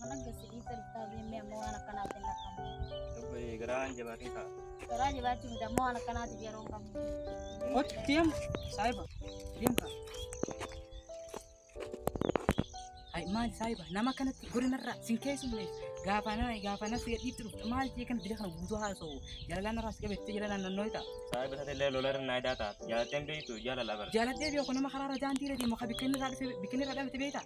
Mana gasidii toltaa beemee ammoo waan akkanaaf hin lakkamu. Dubbii garaan jabaatee ta'a. Garaa jabaatti miti ammoo waan akkanaatiif yeroo hin qabnu. Kochi deem saahiba deem kaa. Hai maal saahiba nama kanatti godinarraa sin keessumne gaafana gaafana si gadhiitti dhufte maal jee kan bira kana guutuu haasa'u jalalaan irraa si qabettee jalalaan nannoo ta'a. Saayiba taate illee lola irra naayidaa ta'a. Jaalatteen beektu jaalala bara. Jaalatee beeku nama karaarra daandii irra deemu kan bikkinni irraa dhufe bikkinni irraa dhabate beektaa?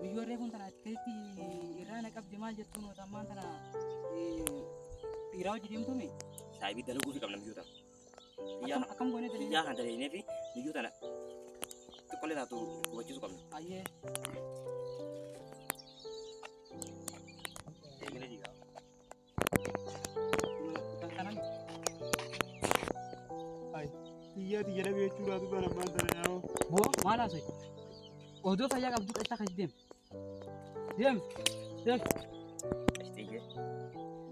Guyyoo reefuun tana akkasitti irraa na qabdi maal jettuun wata ammaan tana dhiiraa hojii deemtuumi. Saayibii dalaguu fi qabna biyyoota. Akkam akkam goonee dalaguu. Biyyaa kan dalagnee fi biyyoo tana xiqqollee taatu hubachiisuu qabna. Ayyee. Eegalee jigaa. Biyyaati jedha beekuu laatu kan abbaan sana yaa'oo. Boo maal haasa'e? Odoo fayyaa qabdu qachaa kan deem. Deem. Deem. Qashtiyyee.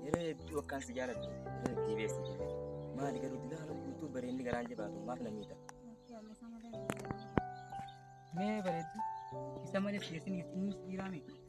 Yeroo hedduu akkaan si jaaladhu. Yeroo hedduu beeksi. Maali garuu dilaa haala guutuu bareenni garaan jabaatu maaf na miidha? Mee bareeddu. Isa malee keessaniif inni dhiiraa miti.